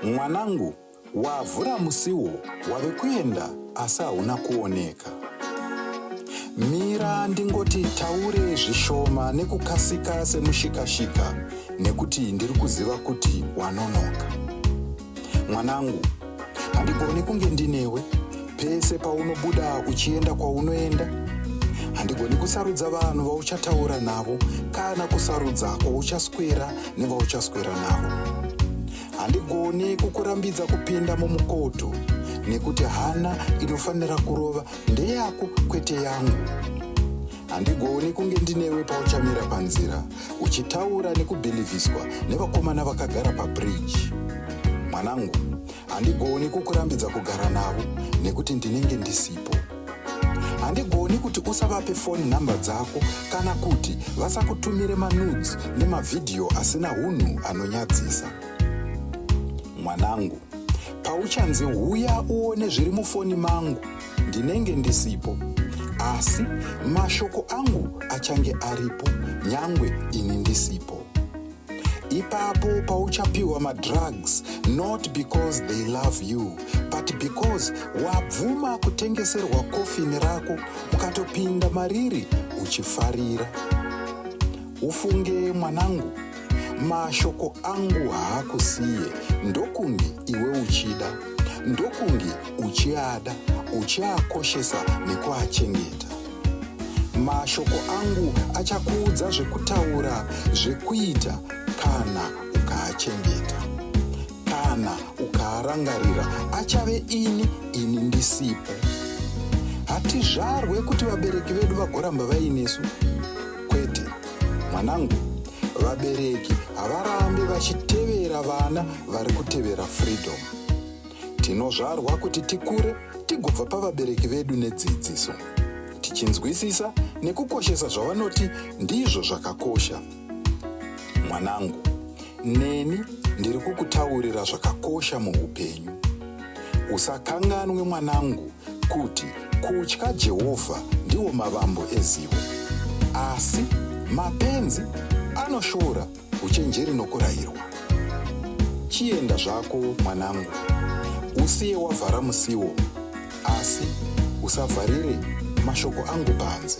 Mwanangu, wavhura musiwo wave kuenda asi hauna kuoneka. Mira ndingoti taure zvishoma nekukasika semushikashika nekuti ndiri kuziva kuti wanonoka. mwanangu handigoni kunge ndinewe pese paunobuda uchienda kwaunoenda handigoni kusarudza vanhu vauchataura navo kana kusarudza kwauchaswera nevauchaswera navo handigoni kukurambidza kupinda mumukoto nekuti hana inofanira kurova ndeyako kwete yangu handigoni kunge ndinewe pauchamira panzira uchitaura nekubhilivhiswa nevakomana vakagara pabridge mwanangu handigoni kukurambidza kugara navo nekuti ndinenge ndisipo handigoni kuti usavape foni nhamba dzako kana kuti vasakutumire manudes nemavhidhiyo asina hunhu anonyadzisa mwanangu pauchanzi huya uone zviri mufoni mangu ndinenge ndisipo asi mashoko angu achange aripo nyangwe ini ndisipo ipapo pauchapiwa madrugs not because they love you but because wabvuma kutengeserwa kofini rako ukatopinda mariri uchifarira ufunge mwanangu mashoko angu haakusiye ndokunge iwe uchida ndokunge uchiada, uchiakoshesa nekuachengeta. Mashoko angu achakuudza zvekutaura, zvekuita kana ukaachengeta. Kana ukaarangarira, achave ini, ini ndisipo. Hatizvarwe kuti vabereki vedu vagoramba vainesu. Kwete, mwanangu, vabereki havarambe vachitevera vana vari kutevera freedom. Tinozvarwa kuti tikure tigobva pavabereki vedu nedzidziso, tichinzwisisa nekukoshesa zvavanoti ndizvo zvakakosha. Mwanangu, neni ndiri kukutaurira zvakakosha muupenyu. Usakanganwe mwanangu kuti kutya Jehovha ndiwo mavambo ezivo, asi mapenzi anoshora uchenjeri nokurayirwa. Chienda zvako, mwanangu, usiye wavhara musiwo, asi usavharire mashoko angu panze.